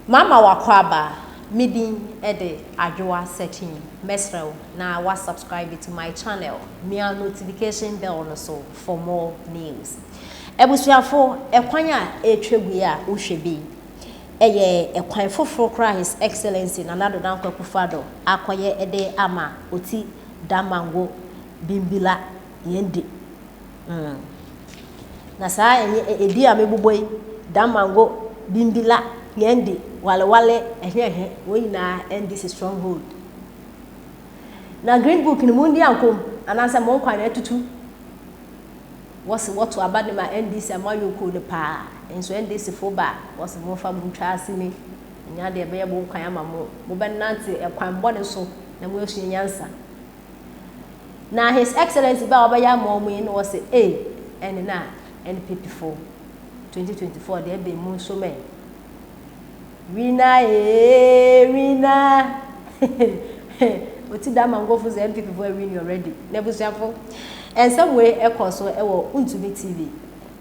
Mama w'akwaaba me din de Adwoa Sekyim mɛsrɛ wo na wa subscribe to my channel mia notification bell no so for more news Abusuafo ɛkwan a ɛretwa gu yi a wo hwɛ bi yi ɛyɛ ɛkwan foforo koraa a His Excellency Nana Addo Dankwa Akufo Addo akɔyɛ de ama Oti Damango Bimbilla yɛn di Mm. Na saa ɛnyɛ ɛ, ɛdi a mebobɔ yi, Dan Mango, Bimbi La, Nyandi, Wale Wale, ɛhe ɛhe, wɔn nyinaa ɛndi si Stronghold. Na Green Book no mondi ankɔ mu, anaasɛ mo nkwa na atutu. Wɔse wɔto aba de ma NDC a moayɔ kuo no paa, nso NDC foɔ ba a, wɔse momfa mo ntwa asini, ɛnyɛ adeɛ ɛbɛyɛ mo nkwan ama mo, mobɛnante ɛkwan bɔne so na moasua nyansa. Na His Excellency bɛ a wɔbɛyɛ ama wɔn yi na wɔse ee ɛne na NPP fo 2024 deɛ ɛbɛn mu nso mɛ. Wina ee wina oti da mangofo sɛ NPP fo awini already. Na abusuafo nsɛm wei ɛkɔ so ɛwɔ Untumi TV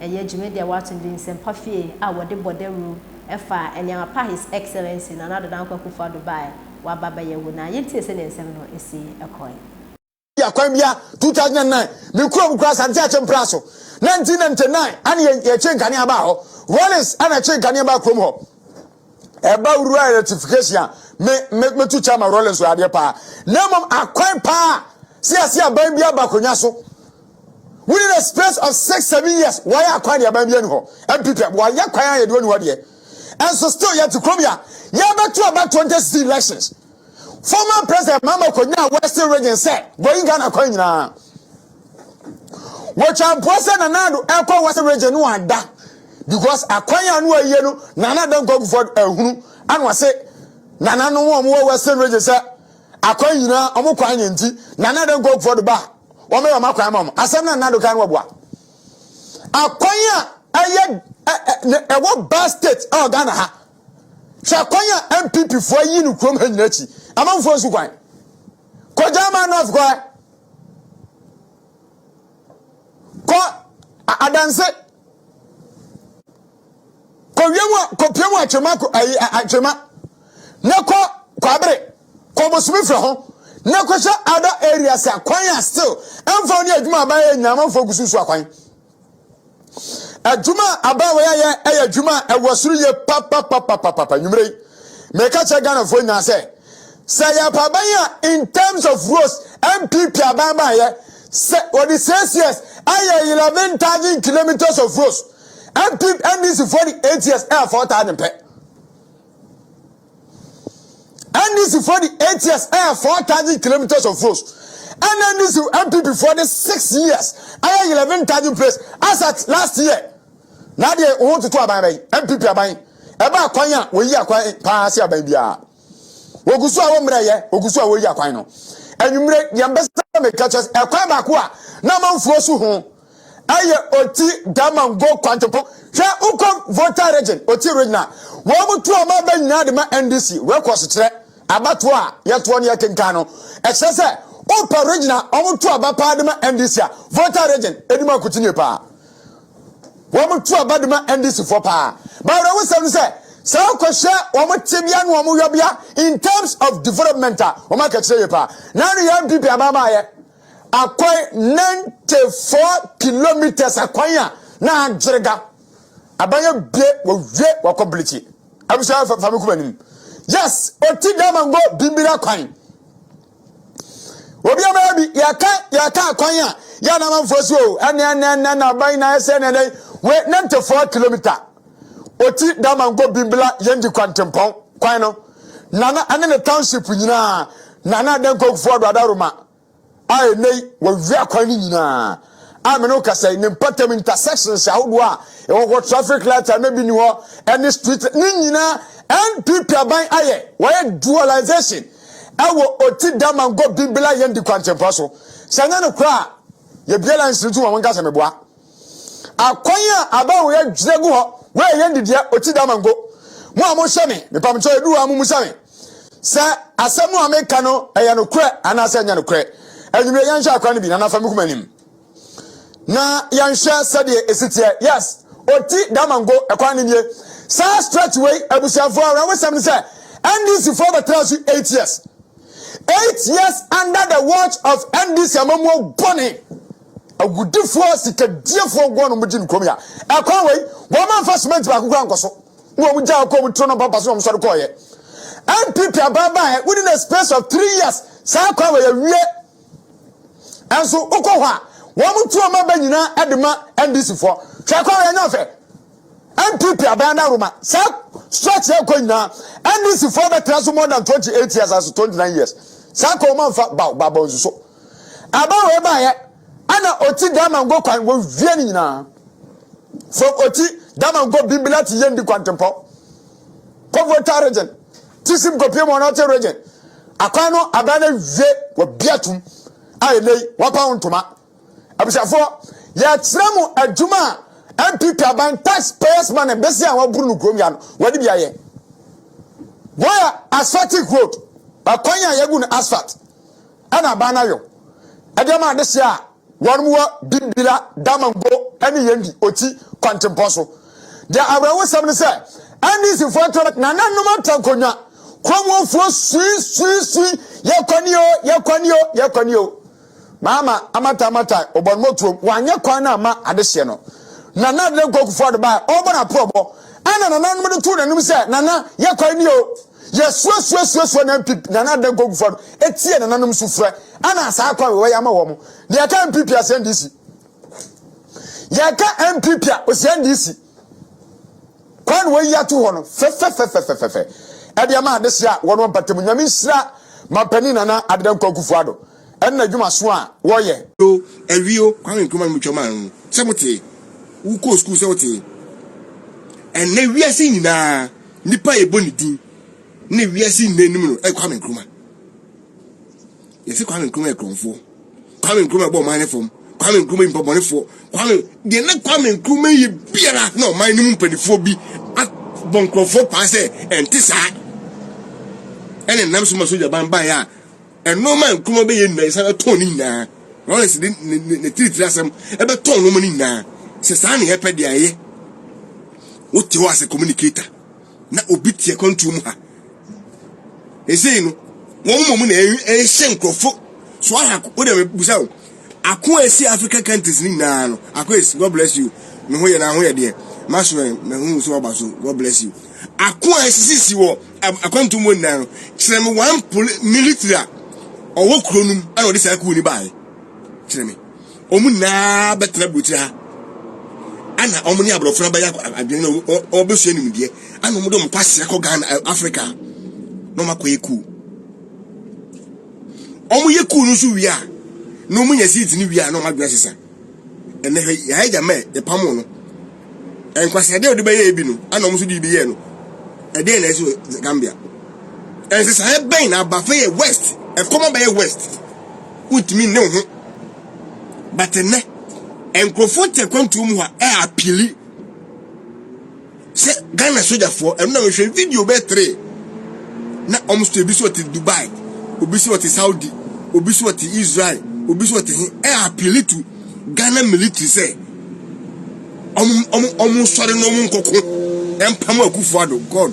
ɛyɛ dwumadi a wɔato din Nsɛmpa Fie a wɔde bɔ dawuru ɛfa nneɛma pa His Excellency Nana Ado Dankwa Akufo-Addo baeɛ waba bɛyɛ wo na yɛntie sɛdeɛ nsɛm no si kɔe. Yɛ akwan bia 2009 me kurom kura asante akye mpra so 1999 ane yɛ yɛ kye nkanea baa hɔ Wallace ɛna ɛkye nkanea baa kurom hɔ ɛba rural electrification a me me me to chama Rollins wɔ adeɛ paa na mmom akwan paa sɛ yɛse aban bi aba konya so within a space of six seven years wɔayɛ akwan deɛ aban bi ani hɔ ɛmpipɛ wɔayɛ kwan a yɛde wani hɔ deɛ Ɛnso still yɛte kurom ya yɛbɛto aba 2016 elections. Former President Mahama kɔnyaa Western region sɛ going Ghana kwan nyinaa. Wɔtwa mpoa sɛ Nana Addo ɛkɔ Western region no ada because akwan a no ayie no Nana Addo nkɔkufo ahunu ano ase Nana no wɔn wɔ Western region sɛ akwan nyinaa wɔn kwan nyɛ nti Nana Addo nkɔkufo do ba wɔn yɛ wɔn akwan ma wɔn asɛm na Nana Addo kan wɔboa. akwan a ɛyɛ ɛwɔ ba state ɛwɔ ghana ha hwɛ akwan a npp foɔ ayi no kurom ha nyina akyi amanfoɔ nsu kwan kɔ german north kɔ ɛ kɔ adanse kɔ wiem a kɔ piem a twema kɔ ayi atwema ne kɔ kɔ abere. kɔ bosome fɛ ho na kɔhyɛ other areas a kwan a still ɛmfa ne adwuma aban yɛ nyinaa amanfoɔ gu so nsu akwan adwuma a aban wɔ yɛyɛ ɛyɛ adwuma a ɛwɔ soro yie papapapapapa nwummerɛ yi meka kyerɛ ghanafoɔ nyinaa sɛ sɛ yɛpa aban a in terms of roads mpp aban baayɛ sɛ wɔde six years ayɛ eleven thousand kilometers of roads mpp ndc foɔ de eight years ɛyɛ four thousand pɛ NDC foɔ de eight years ɛyɛ four thousand kilometres of roads ɛna NDC NPP foɔ de six years ɛyɛ eleven thousand place as at last year na adeɛ wɔn toto aban bɛyi NPP aban ɛba akwan a wɔyi akwan paa se aban biara wɔgu so a wɔmmerɛ yɛ wɔgu so a wɔyi akwan no anwummerɛ deɛ mbɛsɛ mɛka kyɛ ɛkwan baako a na amanfoɔ so ho ɛyɛ oti damango kwantepɔ hwɛ wokɔ voter region oti region a wɔn mo to ɔma bɛ nyinaa de ma ndc records kyerɛ abatoɔ a yɛtoɔ no yɛkenkan no ɛkyerɛ sɛ wopɛ region a wɔn to aba paa de ma ndc a voter region ɛdi ma kutinye paa wɔn to aba de ma ndc foɔ paa bawura wosɛm no sɛ sɛ wokɔhwɛ wɔn tebea ne wɔn yɔbea in terms of development a wɔn akɛkyerɛ yɛ paa na ne yɛ npp abaamaayɛ Akwan 94 kilometres akwan a na agyerega. Aban abie wɔwie wɔkɔ bilikyi. Abusua fa me kuma nim. Yes, oti dama ngo bimbira kwan. Obi ama bi yɛka yɛka akwan a yɛ na manfoɔ so o ɛne ɛne ɛne na aban na ɛsɛ ne ɛne we 94 kilometre ɔti Damango Bimbla Yendi Kwantempɔn kwan no nana ne ne township nyinaa nana Adanko Kufuor Addo Adaroma a ɛnɛ yi wɔwie akwan no nyinaa a me ne wo kasa yi ne mpatam intersections ahodoɔ a ɛwɔ hɔ traffic light a na bi ni hɔ ɛne street ne nyinaa NPP aban ayɛ wɔyɛ dualization ɛwɔ ɔti Damango Bimbla Yendi Kwantempɔn so sɛ nyɛ no koraa yɛbiara nsiri to wɔn nkasa meboa Akwan a abawo yɛ gyina gu hɔ ma ɛyɛ nidea oti da mango. Mo a mohyɛ me, mepamkyɛ edu hɔ a mummusa me sɛ asɛm a meka no ɛyɛ nokorɛ anaasɛ ɛnyɛ nokorɛ. Anwummerɛ yɛnhwɛ akwan no bi na nafa me kuma anim na yɛnhwɛ sɛdeɛ ɛsi teɛ. Yes, oti da mango ɛkwan no nie. Saa stretch wei abusuafoɔ awerɛhosɛm ne sɛ NDC foɔ bɛtena so 8 years. 8 years under the watch of NDC amammuo bɔne. Agudifo a sikadiefo agoa no gye no kurom ya. Ɛkwan wei, wɔma mfa cement baako kura nkɔ so. Na wɔn gyaa kɔɔ mu turo no mpampa so na wɔn sɔre kɔɔyɛ. NPP abaabaayɛ within a space of three years saa kwan wei awie. Ɛnso wokɔ hɔ a wɔn tu wɔn aba nyinaa de ma NDC foɔ. Hwɛ kwan wei anya fɛ. NPP aban na Roma saa stretch yɛ kɔ nyinaa NDC foɔ bɛtena so more than 28 years as 29 years. Saa kwan wɔn amfa baw baabɔ nsuso. Aber wei baeɛ ana ɔti dama ngɔ kwan wɔ wie ne nyinaa fam ɔti dama ngɔ bimbila ti yɛndi kwantempɔ kɔ volta region ti sim kɔpie mɔ nɔte region akwan no abɛn no wie wɔ bia tum a ɛnɛi wɔpa wo ntoma abusuafoɔ yɛkyerɛ mo adwuma a mpp aban tax payers money bɛsi a wɔaburu no kurom ya no wɔde bi ayɛ wɔyɛ asphaltic road akwan a yɛgu no asphalt ɛna aban no ayɔ ɛde ama adesɛ a wɔnom wɔ Bimbilla, Damongo ɛne Yendi, Oti, kwantempɔn so. Deɛ awerɛhosɛm ne sɛ NDC foɔ ntorɔ bɛtena na nom atankonwa, Kuromuofoɔ sui sui sui yɛkɔ nie o, yɛkɔ nie o, yɛkɔ nie o. Maama Amata Amata Obɔnmotuom wanyɛ kwan no amma adehyeɛ no. Nana Adedankwa Kufuor de baɛ ɔrebɔ n'aporɔbɔ ɛna nananom de too n'anim sɛ Nana yɛkɔ nie o. Yɛsuasuasuasua na mpi na na da gogu fa no etie nananom sufrɛ ana saa kwan wɔ yɛ ama wɔn. Na yɛka MPP a sɛn DC. Yɛka MPP a osian DC. Kwan na wɔyi ato hɔ no fɛfɛfɛfɛfɛfɛ ɛde ama adehye a wɔn mpatamu nyame nhyira mampanin nana adeda nkwankufo ado. ɛne adwuma so a wɔyɛ. O, awie o, Kwame Nkrumah no mutwa maa ho sɛ motee, wokɔɔ sukuu sɛ wotee. Ɛnnɛ wiase nyinaa nipa a yɛbɔ ne din ne wiase nyinaa nim no yɛ Kwame Nkrumah. Yɛse Kwame Nkrumah yɛ korɔmfoɔ, Kwame Nkrumah bɔ ɔman ne fam, Kwame Nkrumah yɛ nipabɔnefoɔ, Kwame deɛ na Kwame Nkrumah yɛ biara na ɔman no mu mpanimfoɔ bi abɔ nkorɔfoɔ paa sɛ ɛnte saa ɛne nam so ma sogyaban baeɛ a Nnoɔma a nkuruwa bɛyɛ nyinaa yɛsan bɛtɔn ne nyinaa. Lawrence de ne ne ne tiritiri asɛm ɛbɛtɔn nnoɔma ne nyinaa. Sɛ saa na yɛpɛ deɛ ɛyɛ. Wote hɔ asɛ communicator na obi te akwantuo mu ha. Ɛsei no wɔn mmom na ɛhyɛ nkurɔfo so ahako. Wode mebusa o, Ako a esi African countries no nyinaa no, Ako is God bless you. Ne ho yɛ na ho yɛ deɛ. Maso ɛ na hu so ɔba so God bless you. Ako a esisisi wɔ akwantu mu nyinaa no, kyerɛ me one poli military a ɔwɔ kuro no mu a ɔde saa kuo ni baeɛ. Kyerɛ me. Wɔn nyinaa bɛtena burokyerɛ ha. Ana wɔn ne aborɔfo no abɛyɛ adwene na wɔbɛsua nimdeɛ. Ana wɔn de wɔn kɔ aseɛ kɔ Ghana Africa na wɔn akɔyɛ kuo. wɔyɛ kuu no nso wie a na wɔnya seat no wie a na wɔn adwene sesa ɛnna hwɛ yɛn agya mɛ yɛpam no nkwasɛ deɛ ɔde bɛyɛ ebi no ɛna wɔn nso de bi yɛ no ɛdeɛ na ɛsɛ gambia nsesaeɛ bɛn na aba fɛ yɛ west ɛkɔm abɛyɛ west wontumi ne ho but nnɛ nkurɔfoɔ te akwantuo mu a ɛyɛ apili sɛ ghana sogyafoɔ ɛno na mehwɛ video bɛɛ three na wɔn so ebi so ɔte dubai obi so ɔte saudi obi so ɔte israel obi so ɔte he ɛ appeal to ghana military sɛ wɔn wɔn wɔn sɔre na wɔn nkɔko ɛmpam akufo ado god.